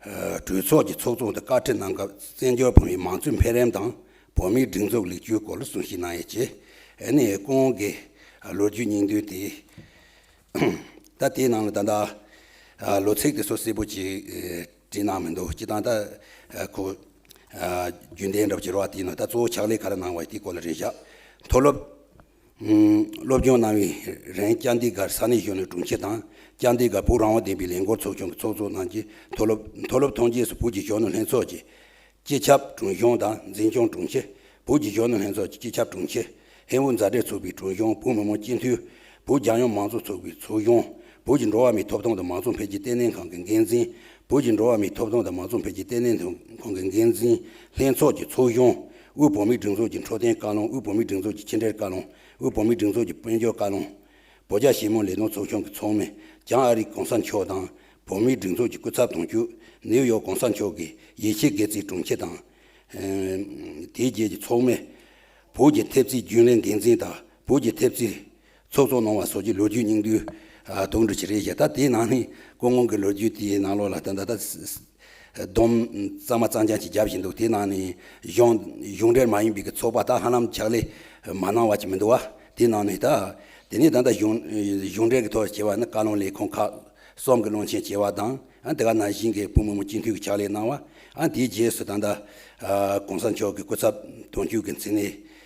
གྲོས་ཚོགས་ཀྱི་ཚོགས་གཙོ་དང་བཀའ་ཁྲི་གནང་སྐབས་བཙན་བྱོལ་བོད་མིའི་མང་གཙོའི་འཕེལ་རིམ་དང་བོད་མིའི་སྒྲིག་འཛུགས་ལེགས་བཅོས་སྐོར་ལ་གསུང་བཤད་གནང་ཡོད་ཅེས་ཨན་ཧེ་ཀོང་གིས་ལོ་རྒྱུས་སྙིང་བསྡུས་ཏེ། ད་དེའི་ནང་ལ་ད་ལྟ་ལོ་ཚིགས་དེ་ཚོ་སིལ་བུ་གཅིག་བྲིས་གནང་མི་འདུག་སྤྱི་བཏང་ད་ཁོ་རྒྱུན་ལྡན་འདྲ་བོ་བྱེད་རོགས་ཨ་དེའི་ནང་ད་གཙོ་བོ་ཕྱག་ལས་ག་རེ་གནང་བ་ཡོད་དེའི་སྐོར་ལ་རེ་བཞག་མཐོ་སློབ། སློབ་སྦྱོང་གནང་བའི་རིང་སྐྱ་འདི་གར་ས་གནས་གཞུང་ནས་དྲུང་ཆེ་དང་སྐྱ་འདི་གར་བུག་རང་དབང་ལྡན་པའི་ལས་འགོར་ཚོགས་ཆུང་གི་ཚོགས་གཙོ་གནང་རྗེས་མཐོ་སློབ་མཐོ་སློབ་ཐོན་རྗེས་སུ་བོད་ཀྱི་གཞོན་ནུ་ལྷན་ཚོགས་ཀྱི་སྤྱི་ཁྱབ་དྲུང་གཞོན་དང་འཛིན་སྐྱོང་དྲུང་ཆེ། བོད་ཀྱི་གཞོན་ནུ་ལྷན་ཚོགས་ཀྱི་སྤྱི་ཁྱབ་དྲུང་ཆེ། ཧེ་བོད་མཛའ་འབྲེལ་ཚོགས་པའི་དྲུང་གཞོན་བོད་མི་མང་སྤྱི་འཐུས། བོད་རྒྱལ་ཡོངས་མང་གཙོ་ཚོགས་པའི་ཚོགས་གཞོན། བོད་ཀྱི་འགྲོ་བ་མིའི་ཐོབ་ཐང་དང་མང་གཙོ་འཕེལ་རྒྱས་བརྟན་བརླིང་ཁང་གི་འགན་འཛིན། བོད་ཀྱི་འགྲོ་བ་མིའི་ཐོབ་ཐང་དང་མང་གཙོ་འཕེལ་རྒྱས་བརྟན་བརླིང་ཁང་གི་འགན་འཛིན། ལྷན་ཚོགས་ཀྱི་ཚོགས་གཞོན། དབུས་བོད་མིའི་སྒྲིག་འཛུགས་ཀྱི་འཕྲོད་བསྟེན་བཀའ་བློན་དབུས་བོད་མིའི་སྒྲིག་འཛུགས་ཀྱི་ཕྱི་འབྲེལ་བཀའ་བློན། དབུས་བོད་མིའི་སྒྲིག་འཛུགས་ཀྱི་དཔལ་འབྱོར་བཀའ་བློན། བོད་རྒྱ་ཞི་མོལ་ལས་དོན་ཚོགས་ཆུང་གི་ཚོགས་མི་ལྗང་ཨ་རིག་གོང་ས་མཆོག་དང། བོད་མིའི་སྒྲིག་འཛུགས་ཀྱི་སྐུ་ཚབ་དོན་གཅོད་ནེའུ་ཡོག་གོང་ས་མཆོག་གི་ཡེ་ཤེས་དགེ་ཚིག་དྲུང་ཆེ་དང། དེའི་རྗེས་ཀྱི་ཚོགས་མི། བོད་ཀྱི་ཐེབས་རྩའི་རྒྱུན་ལས་འགན་འཛིན་དང་བོད་ཀྱི་ཐེབས་རྩའི་ཚོགས་གཙོ་གནང་བ་སོགས་ཀྱི་ལོ་རྒྱུས་སྙིང་བསྡུས་གཏོང་གྲོལ་བྱས་རེད་ཞེས་ད་དེའི་ནང་ནས་ཀོ་ངོ་གི་ལོ་རྒྱུས་དེའི་ནང་ལོགས་ལ་ད་ད་སྡོམ་གཙང་མ་གཙང་རྐྱང་ཞིག་བརྒྱབ་བཞིན་འདུག་དེའི་ནང་ནས་གཞུང་གཞུང་འབྲེལ་མ་ཡིན་པའི་ཚོགས་པ་དག་ཧ་ལམ་ཕྱག་ལས་མ་གནང་བ་ཅིག་མི་འདུག་བ་དེའི་ནང་ནས་ད་དེ་ནས་ད་ལྟ་གཞུང་གཞུང་འབྲེལ་གྱི་ཐོག་བྱས་པ་ནི་བཀའ་བློན་ལས་ཁུངས་ཁག་གསུམ་གྱི་བློན་ཆེན་བྱས་བ་དང་དེ་ག་ན་གཞིན་གྱི་བུ་མོ་མོ་སྤྱི་འཐུས་ཀྱི་ཕྱག་ལས་གནང་བ་དེའི་རྗེས་སུ་ད་ད་གོང་ས་མཆོག་གི་སྐུ་ཚབ་དོན་གཅོད་ཀྱི་མཚན་གནས་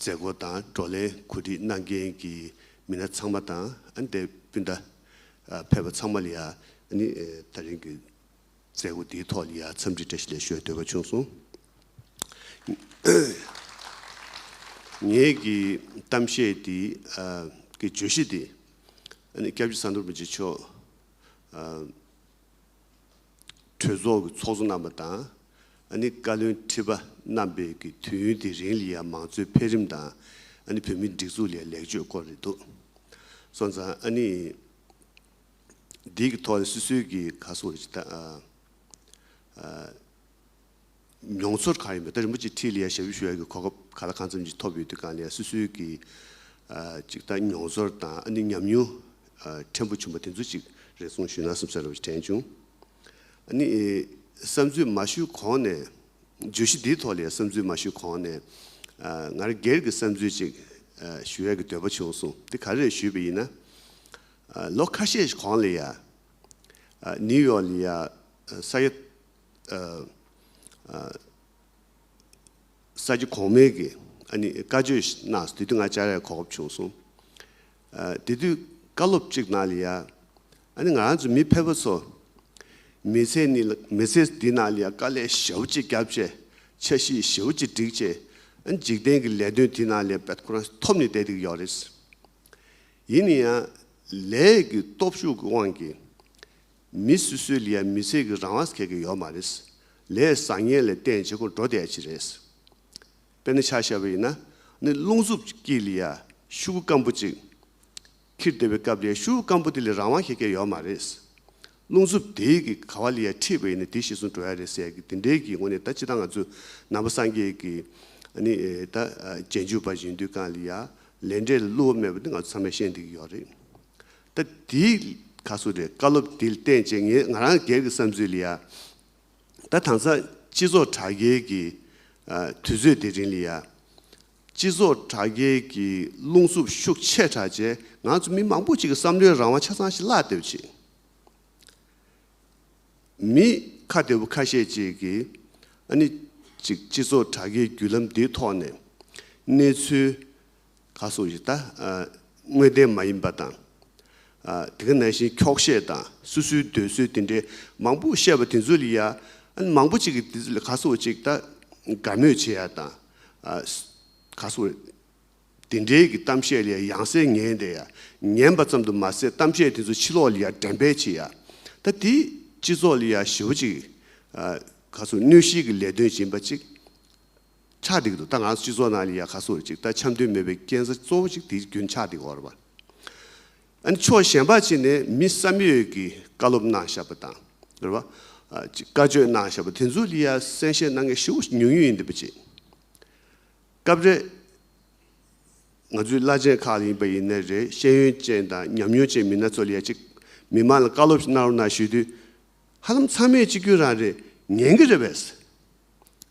མཛད་སྒོ་དང་བགྲོ་གླེང་གོ་སྒྲིག་གནང་མཁན་གྱི་མི་སྣ་ཚང་མ་དང་འདས་སྤུན་ཟླ་ཕལ་པ་ཚང་མ་ལ་ཡང་ནི་ད་རིང་གི་མཛད་སྒོ་འདིའི་ཐོག་ལ་ཡང་འཚམས་འདྲི་བཀྲ་ཤིས་ལན་ཞུ་བའི་འདོད་པ་བྱུང་སོང། ངེད་ཀྱི་གཏམ་བཤད་འདི་གི་བརྗོད་གཞི་འདི་སྐྱབས་རྗེ་ས་མདོར་མི་རྗེ་མཆོག་གྲོས་ཚོགས་ཀྱི་ཚོགས་གཙོ་རྣམ་པ་དང་ཨཱ་ནི་བཀའ་བློན་ཁྲི་པ་རྣམ་པས་ཀྱི་དུས་ཡུན་དེ་རིང་ལི་ཡཱ་མང་གཙོའི་འཕེལ་རིམ་དང་ཨཱ་ནི་བོད་མིའི་སྒྲིག་འཛུགས་ལས་ལེགས་བཅོས་སྐོར་རེད་འདུག་སོང་ཙང་ཨཱ་ནི་འདིའི་གི་ཐོག་ནས་སུད་སུད་ཀྱི་ག་སོ་ཨཱ། མྱོང་ཚོར་གང་ཡིན་པ་དེ་རིན་པོ་ཆེ་ཁྲི་ལ་ཡར་ཞབས་ཞུ་ཞུ་ཡག་གི་གོ་སྐབས་ག་ལ་གང་འཚམ་ཅིག་ཐོབ་ཡོད་དུས་གང་ལ་ཡར་སུད་སུད་ཀྱི་ཅིག་ལྟ་མྱོང་ཚོར་དང་ཨ་ནུས་ཉམས་མྱོང་ཕྲན་བུ་བྱུང་པ་དེ་ཚོ་ཅིག་རེ་གསུང་ཞུས་ན་སེམས་གསོ་ར་བ་ཞིག་དྲན་བྱུང། ཨ་ནི། བསམ་ཚུལ་མ་ཞུས་གོང་ནས། བརྗོད་གཞི་འདིའི་ཐོག་ལ་ཡར་བསམ་ཚུལ་མ་ཞུས་གོང་ནས། ང་རང་སྒེར་གྱི་བསམ་ཚུལ་ཅིག་ཞུ་ཡག་གི་འདོད་པ་བྱུང་སོང་དེ་ག་རེད་ཞུས་པ་ཡིན་ན། ལོ་ཁ་ཤས་གོང་ལ་ཡར་ནིའུ་ཡོག་ལ་ཡར་ས་ཡ་ས་རྒྱུ་གོང་མའི་གི་ཨ་ནི་བཀའ་ཆོས་གནང་སྟེ་དུས་དེ་ང་ལྕགས་རའི་གོག་ཁབ་བྱུང་སོང། དེ་དུས་བཀའ་སློབ་ཅིག་གནང་ལི་ཡ། ཨ་ནི་ང་རང་ཚོ་མི་ཕལ་པ་ཚོ། མི་ཚེ་ནི་མི་ཚེ་འདི་གནང་ལི་ཡ་དཀའ་ལས་ཞེ་བོ་ཅིག་བརྒྱབ་ཅེས་འཆར་གཞི་ཞེ་བོ་ཅིག་བསྒྲིགས་ཅེས་ཨ་ནི་འཇིག་རྟེན་གི་ལས་དོན་དེ་གནང་ལི་ཡ་པད་ཁོ་རང་ཐོབ་ནི་བསྡད་དེ་གི་ཡོག་རེད། ཡིན་ནི་ཡང་ལས་ཀི་སྟོབས་ཤུགས་ཀི་དབང་གིས། མི་སུ་སུའི་ལི་ཡ་མི་ཚེ་གི་རང་བ་གེ་གེ་ཡོད་མ་རེད། ལས་བཟང་ངན་ལས་བསྟན་བྱེད་ཁོང་འགྲོ་བསྡད་ཅིག་རེད། དཔེར་ན་ཆ་ཤས་པ་ཡིན་ན་ནི་རླུང་འཚུབ་ཀྱིས་ལི་ཡ་ཤུ་གུ་སྐམ་པོ་ཅིག་ཁྱིར་བསྡད་པའི་སྐབས་ལི་ཡ་ཤུ་གུ་སྐམ་པོ་དེ་ལས་རང་བ་གེ་གེ་ཡོད་མ་རེད། རླུང་འཚུབ་དེའི་གི་ག་བ་ལི་ཡ་ཁྲིད་པ་ཡིན་ན་དེ་ཤི་སོང་འགྲོ་ཡ་རེད་ཟེར་གི་དེ་འདྲའི་གི་ངོ་ནས་ད་ཅི་ད་ང་ཚོ་ནང་པ་སངས་རྒྱས་གི་ནི་ད་རྗེས་འཇུག་པ་བཞིན་དུས་གང་ལི་ཡ་ལས་འབྲས་ལ་བསླུ་བ་མེད་པ་དེ་ང་ཚོ་ཚང་མས་ཤེས་འདི་གི་ཡོད་རེད། ད་དེའི་ཁ་སུ་རེད་བཀའ་སློབ་དེ་བསྟན་བྱས་ངས་ང་རང་སྒེར་གྱི་བསམ་ཚུལ་ལ་ཡ། ད་དང་ས་སྤྱི་ཚོགས་དྲ་རྒྱའི་གི་དུས་ཚོད་དེ་རིང་ལ་ཡ། སྤྱི་ཚོགས་དྲ་རྒྱའི་གི་རླུང་འཚུབ་ཤུགས་ཆེ་དྲག་རྗེས་ང་ཚོ་མི་མང་པོ་ཅིག་གི་བསམ་བློའི་རང་དབང་ཆ་ཚང་ཞིག་བརླག་བསྡད་པ་ཅིག། མི་ཁ་བདེ་བོ་ཁ་ཤས་ཅིག་གིས་ཨ་ནི་ཅིག་སྤྱི་ཚོགས་དྲ་རྒྱའི་བརྒྱུད་ལམ་འདིའི་ཐོག་ནས་གནས་ཚུལ་ཁ་སོགས་ཀྱི་ལྟ། དངོས་བདེན་མ་ཡིན་པ་དང། དེ་ག་ནང་བཞིན་འཁྱོག་བཤད་དང་སུ་སུའི་འདོད་གསོལ་དེ་འདྲའི་མང་པོ་བཤད་པ་དེ་ཚོ་ལ་ཡ། མང་པོ་ཅིག་གིས་དེ་ཚོ་ལ་ཁ་སོགས་ཅིག་ལྟ། དགའ་མོས་བྱེད་ཡ་དང། ཁ་སོགས། དེ་འདྲའི་གི་གཏམ་བཤད་ལ་ཡ་ཡང་སེ་ངན་བསྡད་ཡ། ངན་པ་ཙམ་དུ་མ་ཟད་གཏམ་བཤད་དེ་ཚོ་ཕྱི་ལོགས་ལ་ཡ་འགྲན་པས་བྱེད་ཡ། ད་དེ་སྤྱི་ཚོགས་ལ་ཡ་ཞེ་བོ་ཅིག། ཁ་སོགས་གནོད་གཞིའི་གི་ལས་དོན་བྱེད་པ་ཅིག། ཆགས་སྡིག་ཏུ་ལྟ་ང་སྤྱི་ཚོགས་ནང་ལ་ཡ་ག་ཟུར་ཅིག་ལྟ་འཆམ་མཐུན་མེད་པའི་རྐྱེན་ས་གཙོ་བོ་ཞིག་དེའི་རྒྱུན་ཆགས་སྡིག་འོར་བ། ཨ་ནི་ཕྱོགས་གཞན་པ་ཅིག་ནས་མི་བསམ་ཡོད་ཀྱི་བཀའ་སློབ་གནང་བཞག་པ་དང། རེད་བ། ཅིག་བཀའ་བཅོས་གནང་བཞག་པ་དེ་ཚོ་ལ་ཡ་གསན་བཞེས་གནང་མཁན་ཧྲིལ་བོ་ཉུང་ཉུང་ཡིན་འདི་པ་ཅིག། སྐབས་རེ། ང་ཚོའི་བླ་ཆེན་ཁག་ལ་ཡིན་པ་ཡིན་ནའི་རེད་ཤེས་ཡོན་ཅན་དང་ཉམས་མྱོང་ཅན་མི་སྣ་ཚོ་ལ་ཡ་ཅིག་མི་མང་ལ་བཀའ་སློབ་ཞིག་གནང་རོགས་གནང་ཞུས་དུས། ཧ་ལམ་ཚང་མས་གཅིག་གྱུར་རང་རེད་ཉན་གྱི་རེད་བས།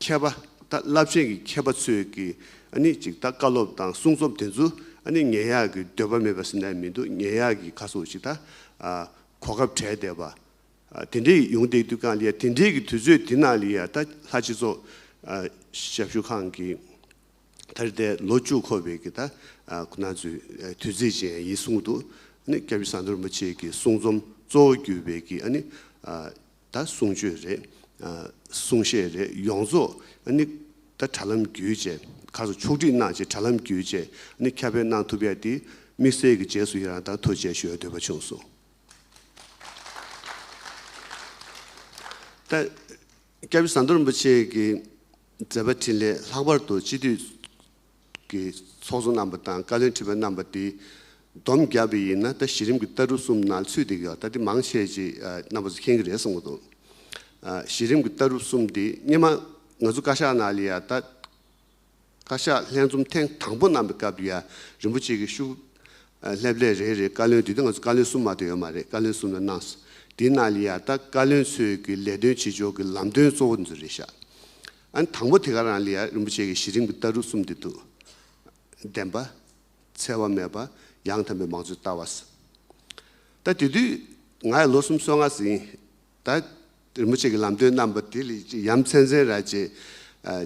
མཁས་པ་དང་རླབས་ཆེན་གྱི་མཁས་པ་ཚོས་ཀྱི་ནི་ཅིག་ཐ་བཀའ་སློབ་དང་གསུང་རྩོམ་དེ་ཚོ་ནི་ངན་ཡག་གི་འདོད་པ་མེད་པ་སེམས་ན་མི་འདུག་ངན་ཡག་གི་ཁ་སོགས་ཅིག་ཐ་གོ་སྐབས་བྲལ་བསྡད་པ། དེ་འདྲའི་ཡོང་བསྡད་དུས་ཀང་ལི་ཡ་དེ་འདྲའི་གི་དུས་ཚོད་དེ་ནང་ལི་ཡ་ཐ་ལྷ་སྤྱི་ཚོགས་ཞབས་ཞུ་ཁང་གི་ཐ་རི་ཐའི་ལོ་བཅུ་འཁོར་བའི་གི་ཐ་ཁོ་ན་ཚོའི་དུས་ཚིགས་ཅན་ཡིན་གསུང་དུ་ནི་སྐྱབས་ཡུལ་ས་མཐོར་མ་ཆེ་གི་གསུང་རྩོམ་གཙོ་བོ་བརྒྱུད་པའི་གི་ནི་ད་གསུང་ཆོས་རེད། གསུང་བཤད་རེད་ཡོངས་རྫོགས་ནི། ད་དྲ་ལམ་བརྒྱུད་བཅས་གར་སོང་ཕྱོགས་སྒྲིག་གནང་བྱས་དྲ་ལམ་བརྒྱུད་བཅས་ནི་ཁྱབ་སྤེལ་གནང་ཐུབ་ཡ་དེ་དམིགས་བསལ་གྱི་རྗེས་སུ་ཡི་རང་དང་ཐུགས་རྗེ་ཞུ་འདོད་པ་བྱུང་སོང། ད་སྐྱབས་ཟམ་མདོ་རིན་པོ་ཆེ་གི་མཛད་པ་འཕྲིན་ལས་ལྷག་པར་དུ་སྤྱི་འཐུས། གི་ཚོགས་གཙོ་རྣམ་པ་དང་བཀའ་བློན་ཁྲི་པ་རྣམ་པ་དེ་བསྡོམས་བརྒྱབ་པ་ཡིན་ན་ད་གཞི་རིམ་གྱི་ལྟ་གྲུབ་གསུམ་ནང་ཚུད་འདུག་ག་ད་དེ་མང་ཆེ་ཆེ་རྣམ་པ་ཚོ་མཁྱེན་གྱི་རེད་བསམ་གྱི་འདུག་གཞི་རིམ་གྱི་ལྟ་གྲུབ་གསུམ་དེ་སྙེ་མ་ང་ཚོ་བཀའ་ཤག་ནང་ལ་ཡང་ད་བཀའ་ཤག་ལྷན་འཛོམས་ཐེངས་དང་པོ་གནང་པའི་སྐབས་དུ་ཡང་རིན་པོ་ཆེ་གི་ཤུགས་ལྷེབ་ལྷེབ་རེད་རེད་བཀའ་བློན་དེ་དུས་ང་ཚོ་བཀའ་བློན་གསུམ་མ་གཏོགས་ཡོད་མ་རེད་བཀའ་བློན་གསུམ་ལ་གནང་སོང་དེ་ནང་ལ་ཡང་ད་བཀའ་བློན་ཚོས་གི་ལས་དོན་བྱེད་ཕྱོགས་གི་ལམ་སྟོན་གཙོ་བོ་འདི་ཚོ་རེད་ཤག་ཨན་དང་པོ་དེ་ག་རང་ལིའ་རིན་པོ་ཆེ་གི་གཞི་རིམ་གྱི་ལྟ་རུ་གསུམ་འདི་འདུག། བདེན་པ། འཚེ་བ་མེད་པ། ཡང་དམ་པའི་མང་གཙོའི་ལྟ་བ། ད་དེ་དུས་ང་ཡང་ལོ་གསུམ་སོ་ལྔ་ཟིན། ད་རིན་པོ་ཆེ་གི་ལམ་སྟོན་རྣམ་པ་དེ་ལས་ཅིག་ཡ་མཚན་མཚན་ར་ཅེས་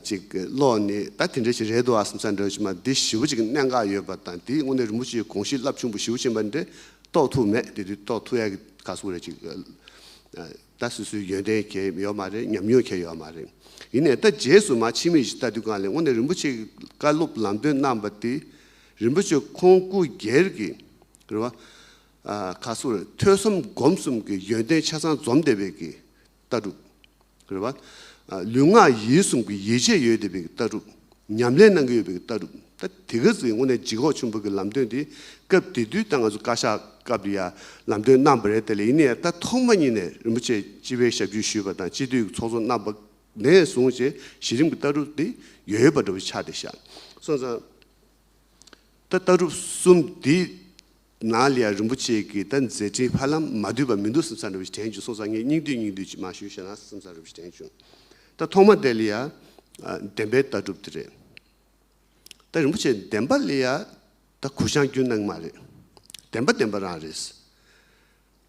ཅིག་ཀློག་ནས་ད་དེ་འདྲ་ཞིག་རེད་འདུག་ཨ་སམ་ས་འདྲ་ཕྱི་མ་འདི་བཞི་བོ་ཅིག་གནད་འགག་ཡོད་པ་དང་དེའི་སྔོན་ནས་རིན་པོ་ཆེའི་གོང་གཞི་རླབས་ཆུང་པོ་བཞི་བོ་ཕྱིན་པ་འདི་རྟོགས་ཐུབ་མེད་དེ་དུས་རྟོགས་ཐུབ་ཡ་གི་ག་སུ་རེད་ཅིག། ད་སུ་སུའི་ཡོན་ཏན་གྱེས་ཡོད་མ་རེད་ཉམས་མྱོང་གྱེས་ཡོད་མ་རེད། ཡིན་ནས་ད་རྗེས་སུ་མ་ཕྱི་མིག་ཅིག་ལྟ་དུས་གང་ལེགས་སྔོན་ནས་རིན་པོ་ཆེ་གི་བཀའ་སློབ་ལམ་སྟོན་གནང་པ་དེ་རིན་པོ་ཆེ་ཁོང་སྐུ་སྒེར་གྱི་རེད་བ། ཁ་སོ་རེད་ཐོས་གསུམ་སྒོམ་གསུམ་གྱི་ཡོན་ཏན་ཆ་ཚང་འཛོམས་བསྡད་པའི་གི་ལྟ་གྲུབ་རེད་བ། ལུས་ངག་ཡིད་གསུམ་གྱི་ཡིད་ཆེས་ཡོད་བསྡད་པའི་གི་ལྟ་གྲུབ་ཉམས་ལེན་གནང་གི་ཡོད་པའི་ལྟ་གྲུབ་ད་དེ་ག་ཟེ་དངོས་གནས་ལྗིད་ཁོག་ཆུན་པོ་གི་ལམ་སྟོན་དེ་སྐབས་དེ་དུས་ད་ང་ཚོ་བཀའ་ཤག་སྐབས་དུ་ཡང་ལམ་སྟོན་གནང་པ་རེད་དེ་ལ་ཡིན་ནས་ཡང་ད་ཐོག་མ་ཉིད་ནས་རིན་པོ་ཆེ་སྤྱི་བའི་ཞབས་ཞུ་ཞུས་པ་དང་སྤྱི་འཐུས་ཀྱི་ཚོགས་གཙོ་གནང་པ་ནས་བཟུང་བཅས་གཞི་རིམ་གྱི་ལྟ་གྲུབ་དེ་ཡོད་ཡོད་པ་འདྲ་བོ་ཆགས་ཏེ་བཞག་སོང་ཙང་ད་ལྟ་གྲུབ་གསུམ་འདི་ན་ལེའི་རིན་པོ་ཆེ་གིས་ད་མཛད་འཕྲིན་ཕར་ལམ་མ་བསྡུས་པ་མི་འདུག་སེམས་ས་རུབ་ཅིག་དྲན་བྱུང་སོང་ས་ངས་སྙིང་བསྡུས་སྙིང་བསྡུས་ཅིག་མ་ཞུས་ཞེ་ན་སེམས་ས་རུབ་ཅིག་དྲན་བྱུང། ད་ཐོག་མ་དེ་ལི་ཡ་བདེན་པའི་ལྟ་གྲུབ་དེ་རེད། ད་རིན་པོ་ཆེ་བདེན་པ་ལི་ཡ་ད་གུ་བཤངས་རྒྱུ་ནང་མ་རེད། བདེན་པ་བདེན་པ་རང་རེད།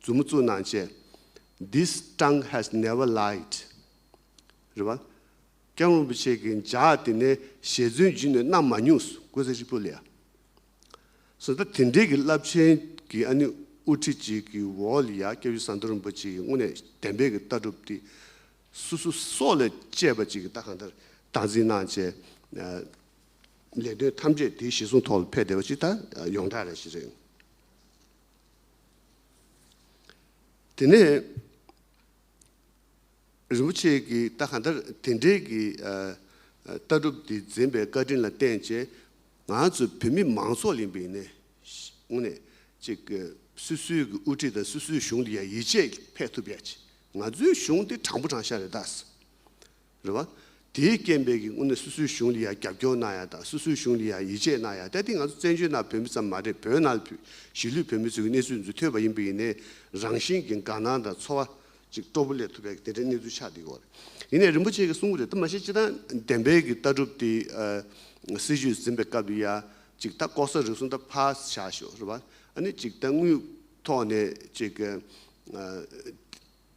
མཛུབ་མོ་བཙུགས་ནང་བཅད། This tongue has never lied། རེད་བ། ཀྱང་རིན་པོ་ཆེ་གིས་འཇག་དེ་ནས་ཞལ་རྫུན་བརྒྱུད་ནས་གནང་མ་མྱོང། ཀུན་གསལ་ཧྲིལ་པོ་ལས། སོ་ད་དེ་འདྲའི་གི་རླབས་ཆེན་གི་ཨ་ནི་དབུ་ཁྲིད་ཅིག་གི་འོག་ལ་ཡ་སྐྱབས་ཡུལ་ཟངས་མདོ་རིན་པོ་ཆེ་ཡི་སྔོན་ནས་གདན་འབེབས་གི་ལྟ་གྲུབ་དེ་སུ་སུ་སོགས་ལས་བཅད་པ་ཅིག་གི་ལྟ་གང་ལྟར་སྟངས་འཛིན་གནང་བཅས་ལས་དོན་ཐམས་ཅད་དེའི་ཞལ་གསུང་ཐོག་ལ་ཕེབས་བསྡད་པ་ཅིག་ད་ཡོངས་གྲགས་རེ་ཞིག་རེད། དེ་ནས་རིན་པོ་ཆེ་ཀྱི་རྟགས་གང་ལྟར་དེ་འབྲེལ་གྱི་ལྟ་གྲུབ་དེ་འཛིན་པའི་བཀའ་དྲིན་ལ་བརྟེན་བཅས་ང་ཚོ་བོད་མི་མང་ཚོགས་ལས་འབུས་ནས་ངོ་ནས་ཅིག་སུད་སུའི་གི་དབུ་ཁྲིད་དང་སུད་སུའི་གཞུང་དེ་ཡང་ཡིད་ཆེས་ཕེད་ཐུབ་ཡ་ཅིག་ང་ཚོའི་གཞུང་དེ་དྲང་པོ་དྲང་ཤ་རེད་དཱ། རེད་བ། དེའི་རྐྱེན་པས་ཀྱི་དངོས་གནས་སུ་སུའི་གཞུང་ལ་ཡང་རྒྱབ་སྐྱོར་གནང་ཡ་དང་སུ་སུའི་གཞུང་ལ་ཡང་ཡིད་ཆེས་གནང་ཡ་ད་དེ་ང་ཚོ་བཙན་བྱོལ་ནང་བོད་མི་ཙམ་མ་རེད་བོད་ནང་ལ་ཕུད་གཞིས་ལུས་བོད་མི་ཚོས་ཀྱི་གནས་ཚུལ་འདི་ཐོས་པ་ཡིན་པས་ཡིན་ནའི་རང་བཞིན་གྱི་དགའ་སྣང་དང་ཚོར་བ་ཅིག་སྤྲོ་པོ་སླེབས་ཐུབ་པས་དེ་འདྲའི་གནས་ཚུལ་ཆགས་འདི་གོ་རེད། ཡིན་ནའི་རིན་པོ་ཆེ་ཀྱི་གསུང་གི་རེད་ད་མ་ཤེས་སྤྱི་དང་བདེན་དཔལ་གྱི་ལྟ་གྲུབ་དེ་སྲིད་ཇུས་འཛིན་པའི་སྐབས་ལ་ཡང་ཅིག་ད་ལྐོག་ཟ་རུལ་སུངས་ད་ཕར་བཞག་ཤོག་རེད་བ། ཨ་ནི་ཅིག་ད་དངུལ་ཐོག་ནས་ཅིག་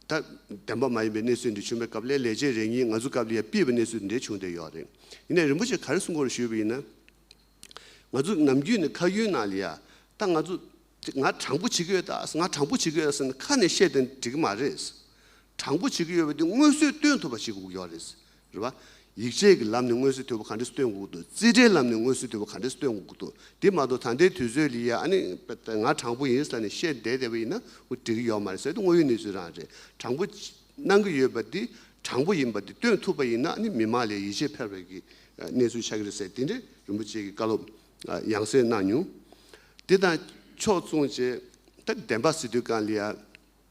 ད་བདེན་པ་མ་ཡིན་པའི་གནས་ཚུལ་འདི་བྱུང་བའི་སྐབས་ལས་ལས་བྱེད་རེ་གཉིས་ང་ཚོ་སྐབས་ལ་ཡར་སྤེལ་བའི་གནས་ཚུལ་འདི་བྱུང་བསྡད་ཡོད་རེད། ཡིན་ནའི་རིན་པོ་ཆེ་ག་རེ་གསུང་སྐོར་ཞུས་པ་ཡིན་ན། ང་ཚོ་ནམ་རྒྱུན་ནས་ཁ་ཡུན་ན་ལི་ཡ་ད་ང་ཚོ་ང་དྲང་པོ་བྱེད་ཀྱི་ཡོད་ད་ང་དྲང་པོ་བྱེད་ཀྱི་ཡོད་ཟེར་ནས་ཁ་ནས་བཤད་དེ་འགྲིག་གི་མ་རེད། དྲང་པོ་བྱེད་ཀྱི་ཡོད་པ་དེ་དངོས་གསོལ་སྟོན་ཐུབ་པ་བྱེད་དགོས་ཀྱི་ཡོད་རེད། རེད་པ། ཡིག་ཆས་ཀྱི་ལམ་ནས་སྔོན་བསུའི་ཐོད་པ་ག་འདྲས་སུ་སྟོན་དགོས་ཐུབ། རྩིས་ཁྲའི་ལམ་ནས་སྔོན་བསུའི་ཐོད་པ་ག་འདྲས་སུ་སྟོན་དགོས་ཐུབ། དེ་མ་གཏོགས་ད་ལྟའི་དུས་ཚོད་ལ་ཡ་ཨ་ནི་ང་དྲང་པོ་ཡིན་ས་ནས་བཤད་བསྡད་བསྡད་པ་ཡིན་ན་འུ་འགྲིག་གི་ཡོད་མ་རེད་ཟེར་དུས་དངོས་ཡོད་གནས་ཚུལ་རང་རེད། དྲང་པོ་གནང་གི་ཡོད་པ་དེ་དྲང་པོ་ཡིན་པ་དེ་སྟོན་ཐུབ་པ་ཡིན་ན་ཨ་ནི་མི་མང་ལས་ཡིད་ཆེས་འཕེར་བའི་གི་གནས་ཚུལ་ཆགས་གི་རེད་ཟེར་དེ་འདྲའི་རིན་པོ་ཆེ་གི་བཀའ་སློབ་ཡང་སེ་གནང་མྱོང། དེ་དང་ཕྱོགས་མཚུངས་ཅན་ད་བདེན་པ་སི་ཏུས་ཀང་ལི་ཡ།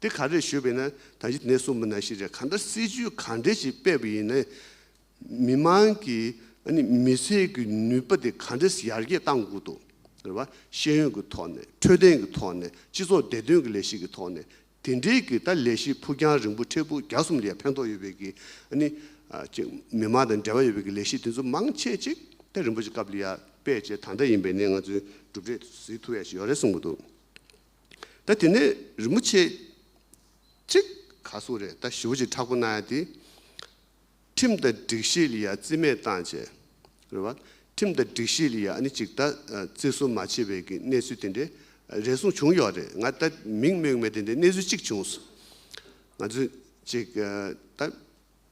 དེ་ག་རེ་ཞུས་པས་ན་ད་གཞི་ནད་གསུམ་མི་སྣ་ཤེས་བྱ་གང་འདྲ་སྲིད་ཇུས་ག་འདྲས་ཀྱིས་སྤེལ་བ་ཡིན་ནའི་མི་དམངས་ཀྱི་མི་ཚེ་གི་ནུས་པ་དེ་ག་འདྲས་ཡར་རྒྱས་གཏང་དགོས་འདུག་རེད་བ། ཤེས་ཡོན་གྱི་ཐོག་ནས་འཕྲོད་བསྟེན་གྱི་ཐོག་ནས་སྤྱི་ཚོགས་བདེ་དོན་གྱི་ལས་གཞི་གྱི་ཐོག་ནས་དེ་འདྲས་ཀྱི་ད་ལས་གཞི་ཕུགས་རྒྱང་རིང་པོ་མཁྲེགས་པོ་རྒྱ་གསུམ་ལས་ཕན་ཐོགས་ཡོད་པའི་གི་མི་དམངས་དང་འབྲེལ་བ་ཡོད་པའི་གི་ལས་གཞི་དེ་ཚོ་མང་ཆེ་གཅིག་ད་རིན་པོ་ཆེ་སྐབས་ལ་ཡར་སྤེལ་བྱས་ད་འདྲ་ཡིན་པས་ནས་ང་ཚོས་གྲུབ་འབྲས་ཟིལ་ཐུ་བས་ཞིག་ཡོད་རེད་གསུངས་པ་འདུག། ད་དེ་ནས་རིན་པོ་ཆེ་གཅིག་ག་སོང་རེད་ད་ཞི་བ་གཅིག་ཕྲག་པོ་གནང་ཡ་དེ། ཁྲིམས་དང་སྒྲིག་གཞི་ལ་ཡ་རྩིས་མེད་བཏང་བྱས་རེད་བ། ཁྲིམས་དང་སྒྲིག་གཞི་ལ་ཡ་ནི་གཅིག་ད་རྩིས་གསོ་མ་བྱས་བས་ཀྱི་གནས་ཚུལ་དེ་འདྲའི་རེ་ཟུང་བྱུང་ཡོད་རེད་ང་ད་མིང་སྨོས་མེད་དེ་འདྲའི་གནས་ཚུལ་གཅིག་བྱུང་སོང། ང་ཚོས་གཅིག་ད།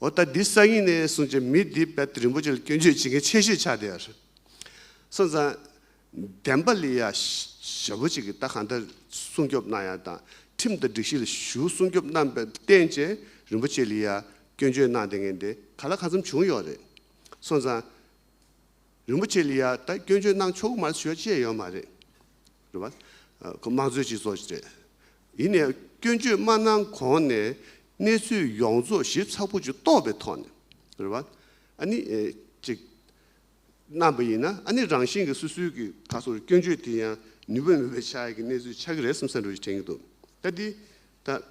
འོ་ད་འདི་གསར་ཡིན་ནའི་གསུང་ཅི་མི་འདི་དཔལ་རིན་པོ་ཆེ་ལ་སྐྱོན་བརྗོད་བྱེད་མཁན་ཆེ་ཤོས་ཆགས་བསྡད་ཡོད་རེད། སོང་ཙང། བདེན་པ་ལས་ཡ་ཞེ་བོ་ཅིག་གིས་ད་གང་ལྟར་སྲུང་སྐྱོབ་གནང་ཡ་དང་ཁྲིམས་དང་སྒྲིག་གཞི་ལ་ཞུགས་སྲུང་སྐྱོབ་གནང་པའི་རྟེན་བཅས་རིན་པོ་ཆེ་ལ་ཡ་སྐྱོན་བརྗོད་གནང་བསྡད་མཁན་དེ་ག་ལ་ག་ཚོམ་བྱུང་ཡོད་རེད། སོང་ཙང། རིན་པོ་ཆེ་ལ་ཡ་ད་སྐྱོན་བརྗོད་གནང་ཆོག་གི་མ་རེད་ཞུ་ཡ་ཅི་ཡ་ཡོད་མ་རེད། རེད་བ། དམངས་གཙོའི་སྤྱི་ཚོགས་རེད། ཡིན་ནའི་སྐྱོན་བརྗོད་མ་གནང་གོང་ནས་གནས་ཚུལ་ཡོངས་རྫོགས་ཞིབ་ཚགས་པོ་ཅིག་རྟོགས་པའི་ཐོག་ནས་རེད་བ། ཨ་ནི། ཅིག། གནང་བ་ཡིན་ན་ཨ་ནི་རང་བཞིན་གྱི་སོ་སོའི་གི་ད་གཟོད་སྐྱོན་བརྗོད་དེ་ཡང་ནུས་པ་མེད་པའི་ཆ་གི་གནས་ཚུལ་ཆགས་ཀྱི་རེད་བསམ་ས་འགྲོ་ཞིག་དྲན་གྱི་འདུག་ད་འདི་ད་ད་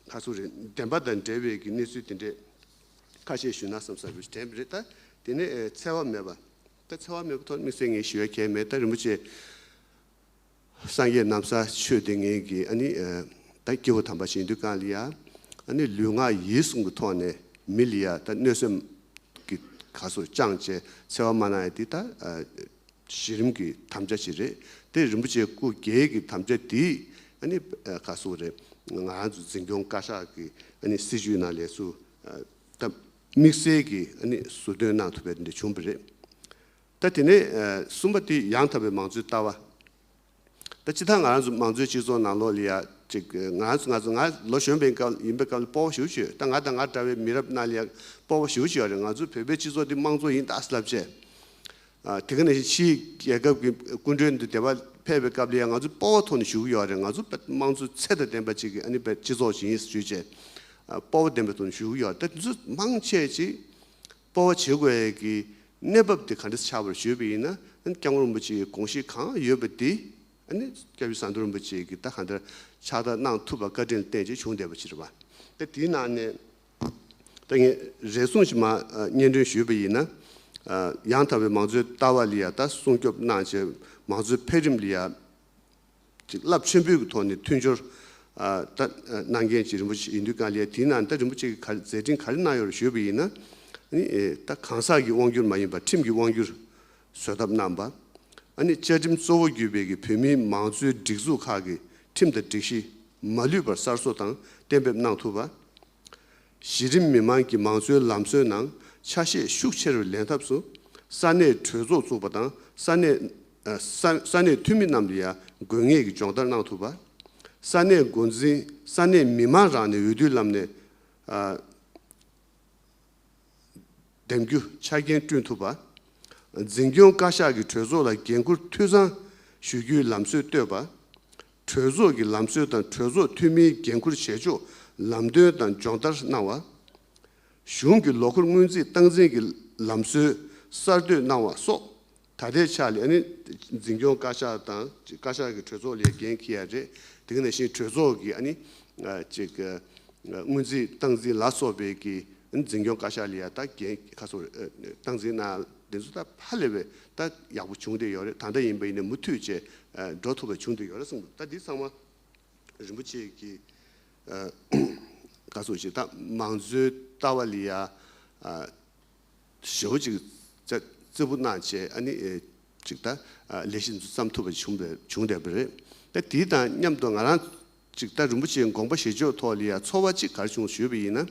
གཟོད་རེད་བདེན་པ་དང་འབྲེལ་བའི་གི་གནས་ཚུལ་དེ་འདྲས་ཁ་བཤད་ཞུས་ན་བསམ་ས་འགྲོ་ཞིག་དྲན་པ་རེད་ད་དེ་ནས་འཚེ་བ་མེད་པ་ད་འཚེ་བ་མེད་པའི་ཐོག་དམིགས་བསལ་ངས་ཞུ་ཡ་གལ་མེད་ད་རིན་པོ་ཆེ་སངས་རྒྱས་གནམ་ས་ཆོས་སྡེ་ངན་གྱིས་ཨ་ནི། ད་སྐྱེ་བོ་དམ་པ་ཞིང་དུ་གང་ལི་ཡ། ཨ་ནི་ལུས་ངག་ཡིད་གསུམ་གྱི་ཐོག་ནས་མི་ལི་ཡ་ད་གནོད་སེམས་ཀྱི་ག་སོ་བཅང་བཅས་འཚེ་བ་མ་གནང་ཡ་འདི་ད་གཞི་རིམ་གྱི་དམ་བཅའ་ཞིག་རེད་དེ་རིན་པོ་ཆེ་སྐུ་སྒེར་གྱི་དམ་བཅའ་འདི་ཨ་ནི། ག་སོ་རེད་ང་རང་ཚོ་འཛིན་སྐྱོང་བཀའ་ཤག་གི་ཨ་ནི་སྲིད་བྱུས་ནང་ལས་སུ་ད་དམིགས་བསལ་གྱི་ཨ་ནི་ཟུར་འདོན་གནང་ཐུབ་པའི་འདི་བྱུང་བ་རེད། ད་དེ་ནས་གསུམ་པ་དུས་ཡང་དག་པའི་མང་གཙོའི་ལྟ་བ། ད་ཅི་ཐག་ང་རང་ཚོ་མང་གཙོའི་སྤྱི་ཚོགས་ནང་ལོགས་ལི་ཡ་ཅིག་ང་རང་ཚོ་ང་ཚོ་ང་ལོ་གཞོན་པའི་སྐབས་ཡིན་པའི་སྐབས་ལ་སྤོ་བ་ཞུ་བྱོས་ད་ང་དང་ང་འདྲ་བའི་མི་རབས་རྣམས་ལི་ཡ་སྤོ་བ་ཞུ་བྱོས་ཡ་རེད་ང་ཚོ་བོད་པའི་སྤྱི་ཚོགས་འདི་མང་གཙོ་ཡིན་གདའ་སླབས་བྱས། དེ་ག་ནས་བཞིན་ཕྱིའི་རྒྱལ་ཁབ་ཀྱི་སྐུ་མགྲོན་འདི་དེ་བ་ཕེབས་པའི་སྐབས་ལི་ཡ་ང་ཚོ་སྤོ་བ་ཐོག་ནས་ཞུ་གི་ཡོད་རེད་ང་ཚོ་མང་གཙོའི་ཚད་དང་ལྡན་པ་ཅིག་གི་ཨ་ནི་སྤྱི་ཚོགས་ཞིག་ཡིན་ཞུས་བྱས། སྤོ་བ་ལྡན་པའི་ཐོག་ནས་ཞུ་གི་ཡོད་རེད་ད་དེ་ཚོ་མང་ཆེ་ཅིག་སྤོ་བ་བྱེད་དགོས་ཡས་ཀྱི་གནས་བབ་དེ་ག་འདྲ་ཆགས་པར་བརྗོད་པ་ཡིན་ན་སྐྱབས་མགོན་རིན་པོ་ཆེའི་དགོངས་གཞི་གང་ཡོད་པ་དེ་ནི་སྐྱབས་རྗེ་ས་འདུལ་རིན་པོ་ཆེ་གིས་ད་ག་འདྲ་ཕྱག་བསྟར་གནང་ཐུབ་པ་བཀའ་དྲིན་བརྟེན་ཅིག་བྱུང་བསྡད་པ་ཕྱིར་བ། ད་དེའི་ནང་ནས་ད་ངས་རེ་ཟུང་ཞིག་མ་སྙན་སྒྲོན་ཞུས་པ་ཡིན་ན། ཡང་དག་པའི་མང་གཙོའི་ལྟ་བ་ལ་ཡང་ད་སྲུང་སྐྱོབ་གནང་བྱས་མང་གཙོའི་འཕེལ་རིམ་ལ་ཡང་གཅིག་རླབས་ཆེན་པོའི་གི་ཐོག་ནས་མཐུན་སྦྱོར་ད་གནང་མཁན་གཅིག་རིན་པོ་ཆེ་ཡིན་དུས་གང་ལེགས་དེའི་ནང་ད་རིན་པོ་ཆེ་གི་ག་རེ་མཛད་འཕྲིན་ག་རེ་གནང་ཡོད་རེ་བཞོད་པ་ཡིན་ན། ནི་ད་གང་ཟག་གི་དབང་སྒྱུར་མ་ཡིན་པར་ཁྲིམས་ཀྱི་དབང་སྒྱུར་བཟོད་ཐབས་གནང་པ། ཨ་ནི་བཅའ་ཁྲིམས་གཙོ་བོ་བརྒྱུད་པའི་གི་བོད་མིའི་མང་གཙོའི་སྒྲིག་འཛུགས་ཁག་གི་ཁྲིམས་དང་སྒྲིག་གཞི་མ་ལུས་པར་གསར་བཟོ་དང་གཏན་འབེབས་གནང་ཐུབ་པ། གཞི་རིམ་མི་དམངས་ཀྱི་མང་གཙོའི་ལམ་སྲོལ་ནང་ཆ་ཤས་ཤུགས་ཆེ་རུ་ལེན་ཐབས་སུ། ས་གནས་གྲོས་ཚོགས་བཙུགས་པ་དང་ས་གནས་ས་གནས་འཐུས་མི་རྣམས་ལ་ཡང་དགོས་ངེས་ཀྱི་སྦྱོང་བརྡར་གནང་ཐུབ་པ། ས་གནས་འགོ་འཛིན་ས་གནས་མི་དམངས་རང་ནས་འོས་བསྡུའི་ལམ་ནས་འདེམས་རྒྱུ་ཆ་རྐྱེན་བསྐྲུན་ཐུབ་པ། འཛིན་སྐྱོང་བཀའ་ཤག་གིས་གྲོས་ཚོགས་ལ་འགན་འཁུར་འཐུས་ཚང་ཞུ་རྒྱུའི་ལམ་སྲོལ་གཏོད་པ། གྲོས་ཚོགས་ཀྱི་ལམ་སྲོལ་དང་གྲོས་ཚོགས་འཐུས་མིའི་འགན་འཁུར་བྱེད་ཕྱོགས་ལམ་སྟོན་དང་སྦྱོང་བརྡར་གནང་བ། གཞུང་གི་ལོ་འཁོར་སྔོན་རྩིས་སྟངས་འཛིན་གྱི་ལམ་སྲོལ་གསར་གཏོད་གནང་བ་སོགས་ད་ལྟའི་ཕྱག་ལས་ནི་འཛིན་སྐྱོང་བཀའ་ཤག་དང་བཀའ་ཤག་གི་གྲོས་ཚོགས་ལས་འགན་གྱི་ཡ་རེད། དེང་ནས་བཞིན་གྲོས་ཚོགས་ཀྱི་སྔོན་རྩིས་སྟངས་འཛིན་ལ་སོགས་པའི་འཛིན་སྐྱོང་བཀའ་ཤག་ལས་ཡ་ད་འགན་ཁ་སོང་སྟངས་འཛིན་གནང། འདི་ཚོ་ད་ཧ་ལས་པའི་ད་ཡག་པོ་བྱུང་བསྡད་ཡོད་རེད་ད་འདྲ་ཡིན་པ་ཡིན་ན་མུ་མཐུད་བྱས་འགྲོ་ཐུབ་པ་བྱུང་བསྡད་ཡོད་རེད་གསུངས་འདུག་ད་འདི་ཚང་མ་རིན་པོ་ཆེ་གི་བཀའ་ཟུར་ཅིག་ད་མང་གཙོའི་ལྟ་བ་ལི་ཡ་ཞོ་ཅིག་རྩེ་ཕུ་གནང་བྱས་ཨ་ནི་ཅིག་ད་ལས་གཞི་འདི་ཚོ་བརྩམས་ཐུབ་པ་བྱུང་བསྡད་པ་རེད་ད་དེ་དང་མཉམ་དུ་ང་རང་ཅིག་ད་རིན་པོ་ཆེའི་དགོངས་པ་བཞེས་ཕྱོགས་ཐོག་ལི་ཡ་ཚོར་བ་ཅིག་གར་བྱུང་ཞུས་པ་ཡིན་ན།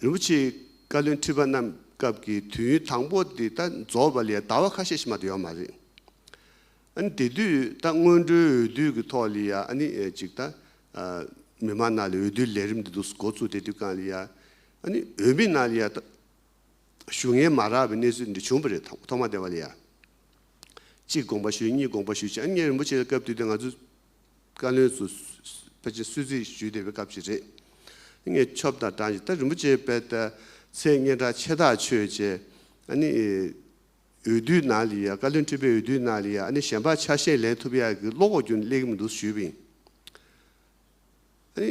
རིན་པོ་ཆེའི་བཀའ་བློན་ཁྲི་པ་རྣམས་སྐབས་ཀྱི་དུས་ཡུན་དང་པོ་དེ་ད་རྫོགས་པ་ལས་ཟླ་བ་ཁ་ཤས་ཕྱི་མ་དུ་ཡོད་མ་རེད། ཨ་ནི་དེ་དུས་ད་སྔོན་འགྲོའི་འོས་བསྡུ་གི་ཐོག་ལི་ཡ་ཨ་ནི་ཅིག་ད་མི་མང་ནང་ལས་འོས་བསྡུ་ལས་རིམ་དེ་དུས་འགོ་བཙུགས་དེ་དུས་ཀང་ལི་ཡ་ཨ་ནི་འོས་མི་ནང་ལི་ཡ་ད་ཞུ་ངེས་མ་རག་པའི་གནས་ཚུལ་འདི་བྱུང་པ་རེད་ཐོག་མ་དེ་བ་ལི་ཡ་ཅིག་དགོངས་པ་ཞུས་གཉིས་དགོངས་པ་ཞུས་བཅས་ཨ་ནི་རིན་པོ་ཆེ་ལ་སྐབས་དུས་དེ་ང་ཚོས་བཀའ་བློན་ཚོ་ཕལ་ཆེར་གསོལ་ཚིགས་ཞུས་བསྡད་པའི་སྐབས་ཤིག་རེད། ངས་ཆོབ་དང་བྲང་ཞིག་ད་རིན་པོ་ཆེའི་དཔལ་ལྟ་ཚེ་སྙན་གྲགས་ཆེ་ཐག་ཆོད་ཅེས་ཨ་ནི། འོས་བསྡུའི་ནང་ལ་ཡང་བཀའ་བློན་ཁྲི་པའི་འོས་བསྡུའི་ནང་ལ་ཡང་ཨ་ནི་གཞན་ཕག་ཆ་ཤས་ལེན་ཐུབ་ཡག་གི་བློ་ཁོག་རྒྱུན་ལེགས་མི་འདུག་ཞུས་པ་ཡིན། ཨ་ནི།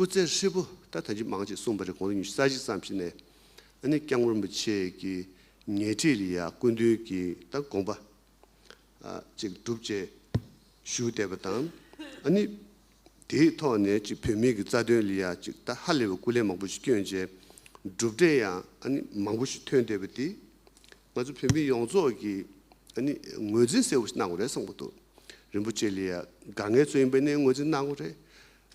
སྐུ་ཚེ་ཧྲིལ་པོ་ད་ཐབས་ཇེ་མང་ཅིག་གསུངས་པ་རེད་གོང་ས་ཉུལ་ས་ཞིག་བསམ་ཤེས་ནས་ཨ་ནི་སྐྱབས་མགོན་པོ་ཆེ་གི་ཉེ་འཁྲིས་ལ་ཡང་སྐུ་མདུན་གྱི་ད་དགོངས་པ་ཅིག་སྒྲུབ་ཅེས་ཞུ་བསྡད་པ་དང་ཨ་ནི་དེའི་ཐོག་ནས་ཅིག་བོད་མི་གི་རྩ་དོན་ལ་ཡང་ཅིག་ད་ཧ་ལས་པའི་སྐུ་ལས་མང་པོ་ཞིག་བསྐྱོན་བྱས་སྒྲུབ་འབྲས་ཡང་ཨ་ནི་མང་པོ་ཞིག་ཐོན་བསྡད་པ་དེ་ང་ཚོ་བོད་མི་ཡོངས་རྫོགས་ཀྱིས་ནི་ངོས་འཛིན་གསལ་བོ་ཞིག་གནང་བ་རེད་གསུངས་པ་འདུག་རིན་པོ་ཆེ་ལི་ཡ་དགའ་ངལ་གཙོ་ཡིན་པ་ནི་ངོས་འཛིན་གནང་བ་རེད།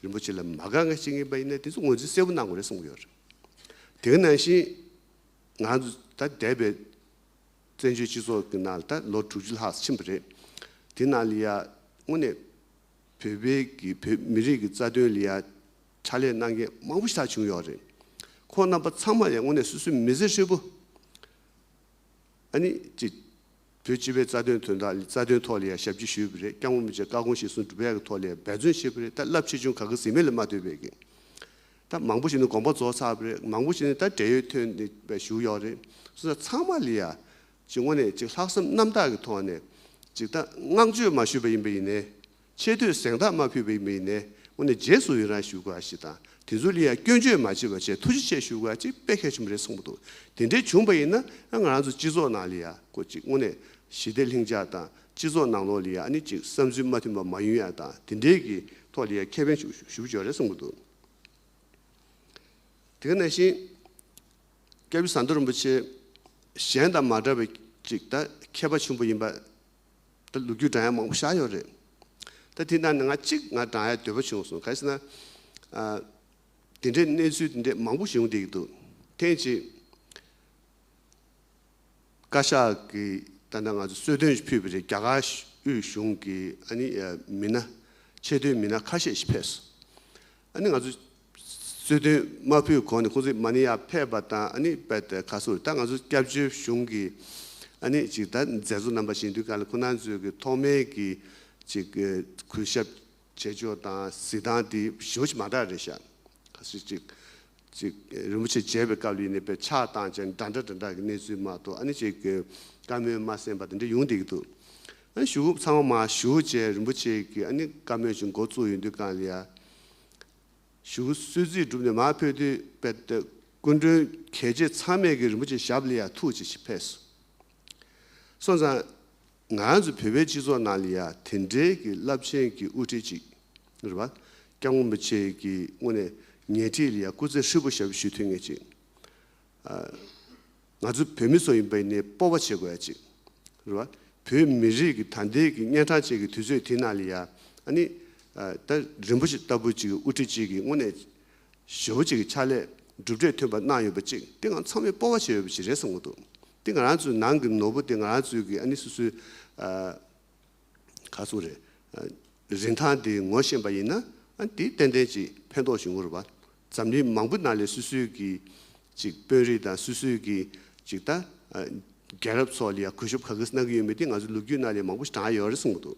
རིན་པོ་ཆེ་ལི་མ་དགའ་ངལ་ཅིག་ཡིན་པ་ཡིན་ན་དེ་ཚོ་ངོས་འཛིན་གསལ་བོ་གནང་བ་རེད་གསུངས་ཡོད་རེད། དེ་ག་ནང་བཞིན་ང་ཚོ་ད་འདས་པའི་བཙན་བྱོལ་སྤྱི་ཚོགས་ཀྱི་ནང་ད་ལོ་དྲུག་ཅུ་ལྷག་ཕྱིན་པ་རེད། དེ་ནང་ལི་ཡ་དངོས་གནས་བོད་པའི་གི་བོད་མི་རིགས་ཀྱི་རྩ་དོན་ལི་ཡ་ཕྱག་ལས་གནང་མཁན་མང་པོ་ཞིག་བྱུང་ཡོད་རེད། ཁོང་རྣམ་པ་ཚང་མ་ཡང་དངོས་གནས་སུ་སུ་མི་ཟེར་ཤོད་པོ། ཨ་ནི། གཅིག། བོད་སྤྱི་པའི་རྩ་དོན་དོན་དག་རྩ་དོན་ཐོག་ལ་ཡང་ཞབས་ཕྱི་ཞུས་པ་རེད་སྐྱག་མོ་མི་བྱེད་བཀའ་དགོངས་གཞི་བཟུང་སྒྲུབ་ཡག་གི་ཐོག་ལ་ཡང་འབད་བརྩོན་བྱས་པ་རེད་ད་རླབས་ཆེ་ཆུང་ག་གི་ཟིན་མེད་ལ་མ་ལྟོས་པའི་གི། ད་མང་པོ་ཞིག་ནི་དགོངས་པ་རྫོགས་ཚར་བ་རེད་མང་པོ་ཞིག་ནི་ད་བྲེལ་ཡོད་ཐོན་ནི་བཞུགས་ཡོད་རེད་སོ་ས་ཚང་མ་ལ་ཡང། གཅིག་དངོས་གནས་གཅིག་ལྷག་བསམ་རྣམ་དག་གི་ཐོག་ནས། གཅིག་ད་བསྔགས་བརྗོད་མ་ཞུས་པ་ཡིན་པ་ཡིན་ནའི། ཆེ་འདོད་གཟེངས་རྟགས་མ་ཕུལ་བའི་མི་ནས་ངོ་ནས་རྗེས་སུ་ཡི་རང་ཞུ་དགོས་ཞེས་དང་དེ་ཚོ་ལ་ཡང་སྐྱོན་བརྗོད་མ་བྱེད་པ་བཅས་ཐུགས་རྗེ་ཆེ་ཞུ་དགོས་ཅིག་དཔེ་གལ་ཆེན་པོ་རེད་གསུངས་པ་འདུག་དེ་འདྲའི་བྱུང་བ་ཡིན་ན་ང་རང་ཚོ་སྤྱི་ཚོགས་ནང་ལ་ཡང་གོ་ཅིག་དངོས་གནས་ཞི་བདེ་ལྷིང་འཇགས་དང་སྤྱི་ཚོགས་ནང་ལོགས་ལ་ཡང་ཨ་ནི་ཅིག་བསམ་ཚུལ་མ་མཐུན་པ་མ་ཡོང་ཡ་དང་དེ་འདྲའི་གི་ཐོག་ལ་ཡང་ཁས་ལེན་ཞུ་ཞུ་ཆོག་རེད་གསུངས་པ་འདུག་དེ་ག་ནང་བཞིན་སྐལ་བཟང་རྡོ་རིན་པོ་ཆེ་གཞན་དང་མ་འདྲ་བའི་ཅིག་ད་མཁས་པ་ཆེན་པོ་ཡིན་པ་ད་ལུག་ཁྱུ་བགྲང་ཡས་མང་པོ་བཞག་ཡོད་རེད། ད་དེ་ནང་ནས་ང་གཅིག་ང་བགྲང་ཡས་འདོད་པ་བྱུང་སོང་གལ་སྲིད་ན། དེ་འདྲའི་གནས་ཚུལ་དེ་འདྲའི་མང་པོ་བྱུང་བསྡད་ཀྱི་འདུག་ཐེངས་གཅིག། བཀའ་ཤག་གིས་ད་ནང་ང་ཚོ་གསོལ་སྟོན་ཞིག་ཕུལ་བ་རེད་རྒྱ་གར་དབུས་གཞུང་གི་ཨ་ནི་མི་སྣ། ཆེ་བསྟོད་མི་སྣ་ཁ་ཤས་ཤིག་ཕེབས་སོང། ཨ་ནི་ང་ཚོ་གསོལ་སྟོན་མ་ཕུལ་གོང་ནས་ཁོང་ཚོས་མ་ནི་ཡག་ཕེབས་པ་དང་ཨ་ཕེབས་ཏེ་ཁ་སུར་ད་ང་ཚོ་སྐྱབས་བཅོལ་གཞུང་གི་ཨ་ནི་ཅིག་ད་མཛད་གཙོ་རྣམ་པ་ཞིག་འདུས་ཁ་ལ་ཁོ་ན་ཚོས་གི་ཐོག་མའི་གི་ཅིག་གུས་ཞབས་བྱེད་ཕྱོགས་དང་གཟིགས་སྟངས་དེ་ཞི་བ་ཞིག་མ་འདྲ་རེད་ཤག་ག་སུ་ཅིག་ཅིག་རིན་པོ་ཆེ་མཇལ་བའི་སྐབས་ལ་ཡིན་ནའི་པའི་ཆགས་སྟངས་ཅན་འདྲ་འདྲ་འདྲ་འདྲ་གི་གནས་ཚུལ་མ་གཏོགས་ཨ་ནི་ཅིག་གི་བཀའ་མོལ་མ་གསན་པ་དེ་འདྲ་ཡོང་སྡད་གི་འདུག་ཨ་ནི་ཞུ་ཚང་མ་མ་ཞུ་བྱས་རིན་པོ་ཆེ་གི་ཨ་ནི་བཀའ་མོལ་ཅིག་མགོ་བཙུགས་ཡོད་འདུས་ག་ལ་ཡ། ཞུ་གསོལ་རྩིས་བསྒྲུབས་ནས་མར་ཕེབས་དུས་དཔལ་ལྡན་སྐུ་མགྲོན་གལ་ཆེ་ཚང་མས་ཀྱིས་རིན་པོ་ཆེ་ཞབས་ལི་ཡ་ཐུགས་རྗེ་ཆེ་ཕེབས་སོ། སོང་ཙང། ང་ཚོ་བོད་པའི་སྤྱི་ཚོགས་ནང་ལི་ཡ་དེ་འདྲའི་གྱི་རླབས་ཆེན་གྱི་དབུ་ཁྲིད་ཅིག་རེད་པ། སྐྱབས་མགོན་པོ་ཆེ་གྱིས་དངོས་ནས་ཉལ་ཁྲིའི་ལི་ཡ་སྐུ་ཚེ་ཧྲིལ་པོ་ཞབས་ཞུ་ཐུགས་ངེས་ཅིག། ང་ཚོ་བོད་མི་ཚོ་ཡིན་པའི་ནས་སྤོ་བ་བྱེད་དགོས་ཡ་ཅིག་རེད་བ། བོད་མི་རིགས་ཀྱི་ད་འདས་ཀྱི་གཉན་ཕྲང་བཅས་ཀྱི་དུས་ཚོད་དེ་ན་ལ་ཡ་ཨ་ནི་ད་རིན་པོ་ཆེ་ལྟ་བུ་ཅིག་དབུ་ཁྲིད་ཅིག་གི་སྔོན་ནས་ཞོ་བོ་ཅིག་གི་ཕྱག་ལས་གྲུབ་འབྲས་ཐོན་པ་གནང་ཡོད་པ་ཅིག་དེ་ང་ཚང་མས་སྤོ་བ་བྱེད་འོས་པ་ཅིག་རེད་བསམ་གི་འདུག་དེ་ང་རང་ཚོའི་ནང་གི་ནོར་བུ་དེ་ང་རང་ཚོའི་གི་ཨ་ནི་སོ་སོའི་ག་ཚོད་རེད། རིན་ཐང་དེ་ངོ་ཤེས་པ་ཡིན་ན་དེ་ཏན་ཏན་ཅིག་ཕན་ཐོགས་ཞུ་འོར་བ། འཛམ་གླིང་མང་པོ་ན་ལས་སུ་སུའི་གི་ཅིག་དཔོན་རིགས་དང་སུ་སུའི་གི་ཅིག་ད་རྒྱལ་རབས་ཚོགས་ལ་ཡང་གུས་ཞབས་ག་གིས་གནང་གི་ཡོད་མེད་དེ་ང་ཚོའི་ལུགས་རྒྱུད་ན་ལས་མང་པོ་ཞིག་དྲངས་ཡོད་རེད་གསུངས་གི་འདུག་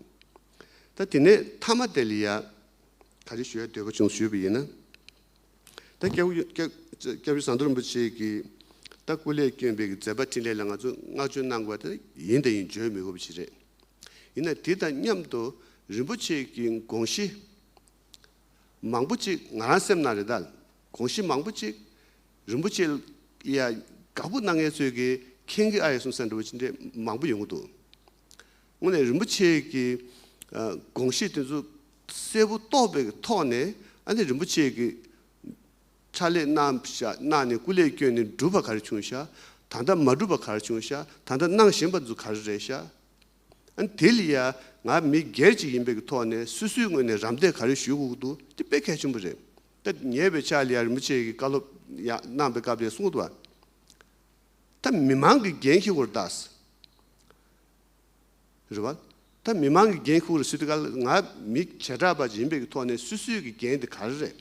ད་དེ་ནས་མཐའ་མ་དེ་ལ་ཡང་ག་རེ་ཞུ་ཡ་འདོད་པ་བྱུང་ཞུས་པ་ཡིན་ན། ད་སྐྱབས་ཡུལ་ཟངས་མདོག་རིན་པོ་ཆེ་གིས་ད་སྐུ་ལས་སྐྱོན་པའི་མཛད་པ་འཕྲིན་ལས་ལ་ང་ཚོས་བསྔགས་བརྗོད་གནང་དགོས་པ་དེ་ཡིན་དེ་ཡིན་བརྗོད་མི་དགོས་པ་ཞིག་རེད། ཡིན་ནའི་དེ་དང་མཉམ་དུ་རིན་པོ་ཆེ་གི་དགོངས་གཞི་མང་པོ་ཅིག་ང་རང་སེམས་ནང་རེ་དཱ་དགོངས་གཞི་མང་པོ་ཅིག་རིན་པོ་ཆེ་ཡ་དགའ་པོ་གནང་མཁན་ཚོས་གིས་མཁྱེན་གི་ཨ་ཡེ་གསུང་ས་འདྲ་བོ་ཅི་འདྲའི་མང་པོ་ཡོང་གི་འདུག། དངོས་གནས་རིན་པོ་ཆེ་གི་དགོངས་བཞེད་དེ་ཚོ་གསལ་པོ་རྟོགས་པའི་ཐོག་ནས་ཨ་ནི་རིན་པོ་ཆེ་གི་ཕྱག་ལས་གནང་ནས་སྐུ་ལས་བསྐྱོན་ནས་སྒྲུབ་པ་ག་རེ་བྱུང་ཤག་ད་ལྟ་མ་སྒྲུབ་པ་ག་རེ་བྱུང་ཤག་ད་ལྟ་གནང་བཞིན་པ་ཚོ་ག་རེ་རེད་ཤག་ཨ་ནི་དེ་ལ་ཡ་ང་མི་སྒེར་ཅིག་ཡིན་པའི་གི་ཐོག་ནས་སུ་སུའི་ངོས་ནས་རམ་འདེགས་ག་རེ་ཞུས་ཁུག་འདུག་དེ་དཔེ་གལ་ཆེན་པོ་རེད་ད་ཉེ་བའི་ཆར་ལ་ཡ་རིན་པོ་ཆེ་གི་བཀའ་སློབ་གནང་པའི་སྐབས་ལ་གསུངས་བ། ད་མི་མང་གི་འགན་ཁྱི་ཁུར་དྭགས། རེད་བ། ད་མི་མང་གི་འགན་ཁྱི་ཁུར་སི་ཏི་ཀལ་ང་མི་བྱེ་བྲག་པ་ཡིན་པའི་ཐོག་ནས་སུ་སུའི་གི་འགན་དེ་ག་རེ་རེད།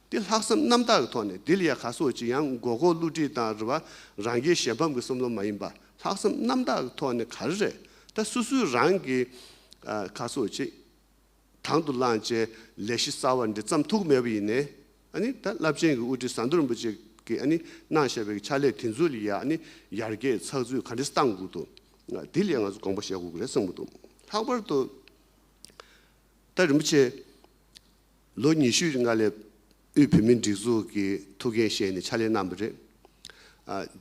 དེ་ལྷག་བསམ་རྣམ་དག་གི་ཐོག་ནས་དེ་ལ་ཡ་ག་སོ་ཅི་ཡང་མགོ་སྐོར་བསླུ་བྲིད་དང་རེད་བ་རང་རྒྱལ་གཞན་ཕམ་གི་བསམ་བློ་མ་ཡིན་པ་ལྷག་བསམ་རྣམ་དག་གི་ཐོག་ནས་ག་རེ་རེད་ད་སུ་སུའི་རང་གི་ག་སོ་ཅི། དང་དུ་བླངས་བཅས་ལས་གཞི་གསར་བ་འདི་བརྩམས་ཐུག་མེད་པ་ཡིན། ད་རླབས་ཆེན་གྱི་དབུ་ཁྲིད་ཟངས་མདོག་རིན་པོ་ཆེ་གིས་གནང་བཞག་པའི་ཕྱག་ལས་དེ་ཚོ་ལ་ཡང་ཡར་རྒྱས་ཚགས་ཚུད་ག་རེས་གཏང་དགོས་འདུག་དེ་ལ་ཡང་ང་ཚོས་དགོངས་པ་བཞེས་དགོས་ཀྱི་རེད་གསུངས་པ་འདུག་ལྷག་པར་དུ། ད་རིན་པོ་ཆེས་ལོ་ཉི་ཤུའི་རིང་མངའ་ལས་དབུས་བོད་མིའི་སྒྲིག་འཛུགས་ཀྱི་ཐུགས་འགན་བཞེས་ནས་ཕྱག་ལས་གནང་བ་རེད།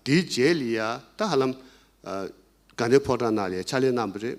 དེའི་རྗེས་ལ་ཡང་ད་ཧ་ལམ་དགའ་ལྡན་ཕོ་བྲང་ནང་ལ་ཡང་ཕྱག་ལས་གནང་བ་རེད།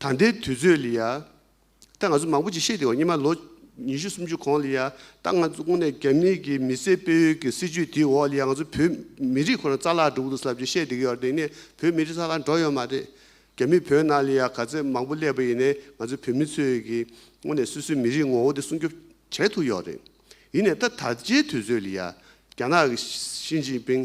ད་ལྟའི་དུས་ཚོད་ལ་ཡ་ད་ང་ཚོ་མང་པོ་ཅིག་ཤེས་བདེ་བ་སྙེ་མ་ལོ་ཉི་ཤུ་སུམ་ཅུ་གོང་ལ་ཡ་ད་ང་ཚོ་དགོངས་ནས་རྒྱ་མི་གི་མི་སེར་སྤེལ་ཡུལ་གི་སྲིད་ཇུས་དེའི་འོག་ལ་ཡ་ང་ཚོ་བོད་མི་རིགས་ཁོ་ན་རྩ་ལག་འགྲོ་གི་འདུག་ཟབ་ཅིག་ཤེས་བདེ་གི་ཡོད་རེད་དེ་ནས་བོད་མི་རིགས་རྩ་ལག་འགྲོ་ཡོད་མ་རེད། རྒྱ་མི་བོད་ནང་ལ་ཡ་ག་ཚད་མང་པོ་སླེབས་པ་ཡིན་ནས་ང་ཚོ་བོད་མི་ཚོས་གི་དངོས་ནས་སུ་སུའི་མི་རིགས་ངོ་བོ་དེ་སྲུང་སྐྱོབ་བྱེད་ཐུབ་ཡོད་རེད། ཡིན་ནས་ད་ད་ལྟའི་དུས་ཚོད་ལ་ཡ་རྒྱ་ནག་གི་ཞིན་ཅིན་ཕིང་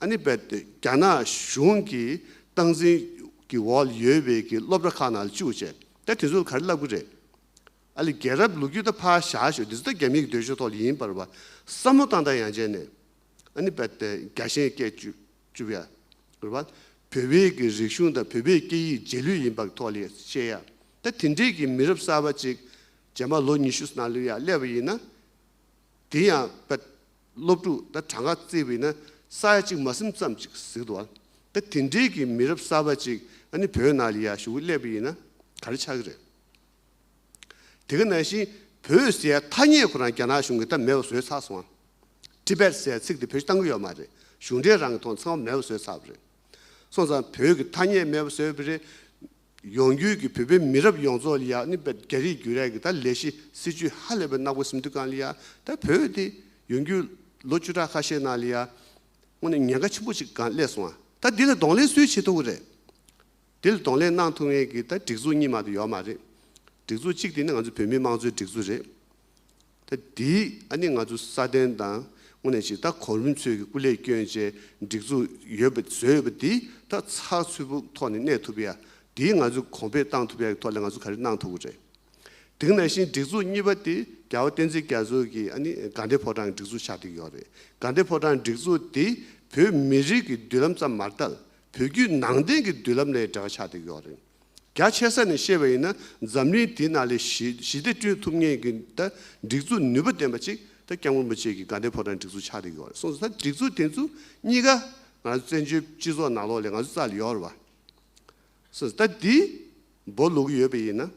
ཨ་ནི་བལ་སྟོད་རྒྱ་ནག་གཞུང་གི་སྟངས་འཛིན་གི་འོག་ཡོད་བའི་གི་སློབ་གྲྭ་ཁག་ནང་ལ་བཅུག་བྱས་ད་དེ་ཚོ་ག་རེ་བསླབ་གི་རེད་ཨ་ལི་རྒྱལ་རབས་ལུག་ཁྱུ་ད་ཕ་ཞག་ཤོད་འདི་ཚོ་ད་རྒྱ་མིའི་གི་འདོད་ཆོས་ཐོག་ལ་ཡིན་པར་བ་སྲ་མོ་བཏང་ད་ཡང་བྱས་ནས་ཨ་ནི་བལ་སྟོད་རྒྱ་ཞེན་སྐད་བཅུ་བཅུ་བྱས་རེད་བ་བོད་པའི་གི་རིག་གཞུང་དང་བོད་པའི་སྐད་ཡིག་རྗེས་ལུས་ཡིན་པ་གི་ཐོག་ལ་བཤད་ཡ་ད་དེ་འདྲའི་གི་མི་རབས་གསར་བ་ཅིག་རྗེས་མ་ལོ་ཉི་ཤུ་སྲ་ལོའི་ཡ་སླེབས་པ་ཡིན་ན་དེ་ཡང་བལ་སློབ་ཕྲུག་ད་གྲངས་ཀ་བརྩི་བས་ན་ས་ཡ་གཅིག་མ་སུམ་ཙམ་ཅིག་གཟིགས་འདུག་ཨང། ད་དེ་འདྲིས་ཀྱི་མི་རབས་གསར་པ་ཅིག་ཨ་ནི་བོད་ནང་ལ་ཡར་ཞུ་གི་སླེབས་པ་ཡིན་ན་ག་རེ་ཆགས་ཀྱི་རེད། དེ་ག་ནང་བཞིན་བོད་ཟེར་ཡ་ཐ་སྙད་ཁོ་རང་རྒྱ་ནག་གཞུང་གི་ད་མེད་པ་བཟོས་ཚར་སོང་ཨང། Tibet ཟེར་ཡ་ཚིག་དེ་བོད་ཕྱི་གཏང་གི་ཡོད་མ་རེད་གཞུང་འབྲེལ་རང་གི་ཐོག་ཚང་མ་མེད་པ་བཟོས་ཚར་བ་རེད། སོང་ཙང་བོད་ཀྱི་ཐ་སྙད་མེད་པ་བཟོས་པ་རེད། ཡོང་རྒྱུད་ཀྱི་བོད་པའི་མི་རབས་ཡོངས་རྫོགས་ལ་ནི་བོད་རྒྱ་རིགས་རྒྱུད་རད་ཀྱི་ད་ལས་གཞི་སྲིད་ཇུས་ཧ་ལས་པའི་གནག་པོ་སིམ་དུ་ཀང་ལི་ཡ་ད་བོད་དེ་ཡོང་རྒྱུད་ལོ་བཅུ་ཕྲག་ཁ་ཤས་ནང་ལི་ཡ་དངོས་ནས་ཉེན་ཁ་ཆེན་པོ་ཅིག་ཀང་སླེབས་སོང་བ་ད་དེ་ལ་གདོང་ལེན་སུས་བྱེད་ཐུབ་ཀི་རེད་དེ་ལ་གདོང་ལེན་གནང་ཐུབ་ངེས་ཀྱི་ད་སྒྲིག་འཛུགས་གཉིས་མ་དུ་ཡོད་མ་རེད་སྒྲིག་འཛུགས་གཅིག་དེ་ནི་ང་ཚོ་བོད་མིའི་དམངས་གཙོའི་སྒྲིག་འཛུགས་རེད། ད་དེ་ཨ་ནི་ང་ཚོ་སྲ་བརྟན་དང་དངོས་གནས་ཇི་ལྟར་གོ་རིམ་འཚོལ་གྱི་སྐུ་ལས་སྐྱོན་བཅས་སྒྲིག་འཛུགས་ཡོད་པ་བཟོས་ཡོད་པ་འདི་ད་ཚགས་ཚུད་པོ་ཐོག་ནས་གནས་ཐུབ་ཡ་དེ་ང་ཚོས་གོང་འཕེལ་བཏང་ཐུབ་ཡ་གི་ཐོག་ལས་ང་ཚོ་ག་རེ་གནང་ཐུབ་གི་རེད། དེང་ན་བཞིན་སྒྲིག་འཛུགས་གཉིས་པ་དེ་རྒྱ་བོ་བསྟན་འཛིན་རྒྱ་མཚོ་གིས་ཨ་ནི་དགའ་ལྡན་ཕོ་བྲང་གི་སྒྲིག་འཛུགས་ཆགས་འདི་གི་ཡོག་རེད་དགའ་ལྡན་ཕོ་བྲང་སྒྲིག་འཛུགས་དེ་བོད་མི་རིགས་ཀྱི་མདུན་ལམ་ཙམ་མ་ཏལ་བོད་བརྒྱུད་ནང་བསྟན་གྱི་མདུན་ལམ་ལས་འབྲེལ་བ་ཆགས་འདི་གི་ཡོག་རེད། རྒྱ་ཆེ་ས་ནས་ཤེས་པ་ཡིན་ན་འཛམ་གླིང་དེ་ན་ལས་ཞི་བདེ་བསྐྲུན་ཐུབ་ངེས་ཀྱི་སྒྲིག་འཛུགས་ནུས་པ་ལྡན་པ་གཅིག་ད་སྐྱབས་མགོན་པོ་ཆེ་གི་དགའ་ལྡན་ཕོ་བྲང་སྒྲིག་འཛུགས་ཆགས་འདི་ཡོད་རེད་གསུངས་སོང་ད་སྒྲིག་འཛུགས་དེ་ཚོ་གཉིས་ཀ་ང་རང་བཙན་བྱོལ་སྤྱི་ཚོགས་ནང་ལོགས་ལས་ང་ཚོ་རྩ་ལ་ཡོད་རེད་བ། གསུངས་སོང་ད་འདི་འབོ་ལུག་ཡོད་པ་ཡིན་ན།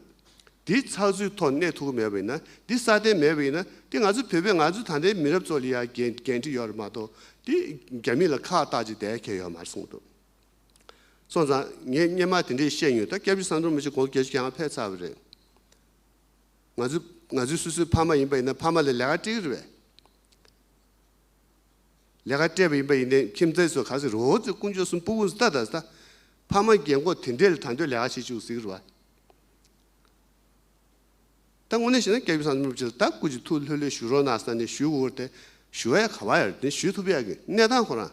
འདི་ཚགས་ཚུད་ཐོག་གནས་ཐུག་གི་མེད་པ་ཡིན་ན་འདི་སྲ་བརྟན་མེད་པ་ཡིན་ན་འདི་ང་ཚོ་བོད་པའི་ང་ཚོ་ད་ལྟའི་མི་རབས་ཚོ་ལ་ཡང་འགན་འཁྲི་ཡོད་རེད་མ་གཏོགས་འདི་རྒྱ་མི་ལ་ཁག་བཏགས་ཅིག་བསྡད་ཁེལ་ཡོད་མ་རེད་གསུངས་འདུག། སོང་ཙང་ངས་སྙན་མ་དེ་འདྲས་བཤད་མྱོང་ད་སྐྱབས་རྗེ་བསམ་འགྲུབ་མི་ཆོག་གོ་སྐྱེས་ཀྱང་ཕེབས་ཚར་བ་རེད། ང་ཚོས་ང་ཚོའི་སུ་སུའི་ཕ་མ་ཡིན་པ་ཡིན་ན་ཕ་མ་ལས་ལས་ཀ་སྤྲད་གི་རེད་བས། ལས་ཀ་སྤྲད་པ་ཡིན་པ་ཡིན་ནའི་ཁྱིམ་མཚེས་སུ་ག་ཟེ་རོ་ཙེ་དཀོན་མཆོག་གསུམ་པོ་བུ་ཟ་ད་ཟ་ད་ཕ་མ་རྒན་མགོ་དེ་འདྲས་ལ་ད་འདོད་ལས་ཀ་བྱེད་བཅུག་ཟེ་གི་རེད་བས། ད་དངོས་གནས་བཤད་ན་སྐྱབས་རྗེ་བསམ་འགྲུབ་ཀྱིས་ད་སྐུ་གཅིག་ཐུགས་ལྷོད་ལྷོད་ཞུ་རོགས་གནང་ས་ནས་ཞུ་དགོས་དགོས་ཏེ་ཞུ་བ་ཡ་ག་བ་ཡ་རེད་དེ་ཞུ་ཐུབ་ཡ་གི་གནས་སྟངས་ཁོ་རང།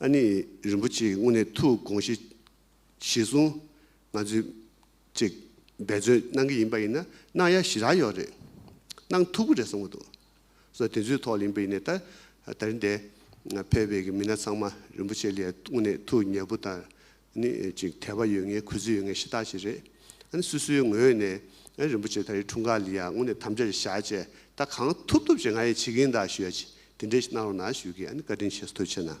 ཨ་ནི་རིན་པོ་ཆེའི་དངོས་གནས་ཐུགས་དགོངས་བཞེས་གསུངས། ང་ཚོས་ཅིག་འབད་བརྩོན་གནང་གི་ཡིན་པ་ཡིན་ན་གནང་ཡ་ཞི་རག་ཡོད་རེད། གནང་ཐུབ་ཀྱི་རེད་གསུངས་པ་འདུག་བསོད་དེ་ཚོའི་ཐོག་ལ་ཡིན་པ་ཡིན་ན་ད་ད་རིན་དེ་ཕེབས་པའི་མི་སྣ་ཚང་མ་རིན་པོ་ཆེ་ལས་དངོས་གནས་ཐུགས་མཉེས་པོ་དང་ནི་ཅིག་ཐལ་བ་ཡོད་ངེས་གུས་བརྩི་ཡོད་ངེས་ཤི་རྟགས་ཤིག་རེད། ཨ་ནི་སུ་སུའི་ངོས་ནས་རིན་པོ་ཆེ་ད་རེའི་འཁྲུངས་སྐར་ལི་ཡ་ངོ་ནས་དམ་བཅའ་རེ་བཞག་བཅས་ད་གང་ཐུབ་ཐུབ་བྱེད་ང་ཡི་བྱེད་གིན་ད་ཞུ་ཡ་ཅིག་དེ་འདྲས་ཤིག་གནང་རོགས་གནང་ཞུ་གིས་ཨ་ནི་བཀའ་དྲིན་ཆེ་སོ་ཐུགས་ཆེ་གནང།